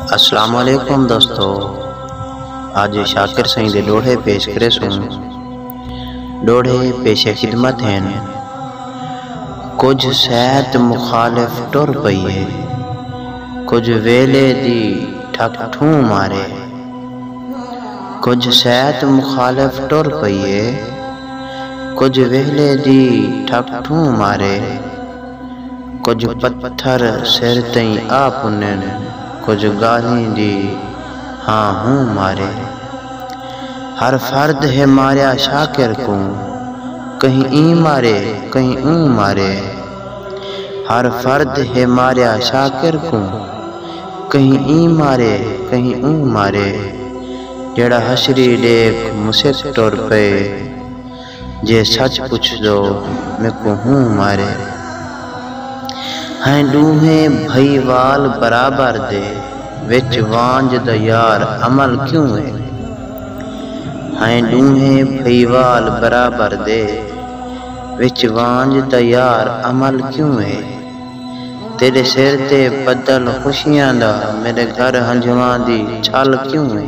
اسلام علیکم دوستو اج شاکر سائیں دے ڈوہے پیش کرے سوں ڈوہے پیش خدمت ہیں کچھ سید مخالف ٹر پئیے کچھ ویلے دی ٹھک ٹھوں مارے کچھ سید مخالف ٹر پئیے کچھ ویلے دی ٹھک ٹھوں مارے کجھ پتھر سر تئیں آ پنن کجھ ڳالھیں دی ہاں ہوں مارے ہر فرد ہے ماریا شاکر کوں کہیں ایں مارے کہیں اوں مارے ہر فرد ہے ماریا شاکر کوں کہیں ایں مارے کہیں اوں مارے جیڑھا حشری ݙیکھ مسک ٹر پئے۔ جے سچ پچھدو میکوں ہوں مارے۔ ہیں ڈونہیں بھئیوال برابر دے وچ وانجھ دا یار عمل کیوں ہے۔ ہیں ڈونہیں بھئیوال برابر دے وچ وانجھ دا یار عمل کیوں ہے۔ تیڈے سر تے بدل خوشیاں دا میڈے گھر ہنجھواں دی چھل کیوں ہے۔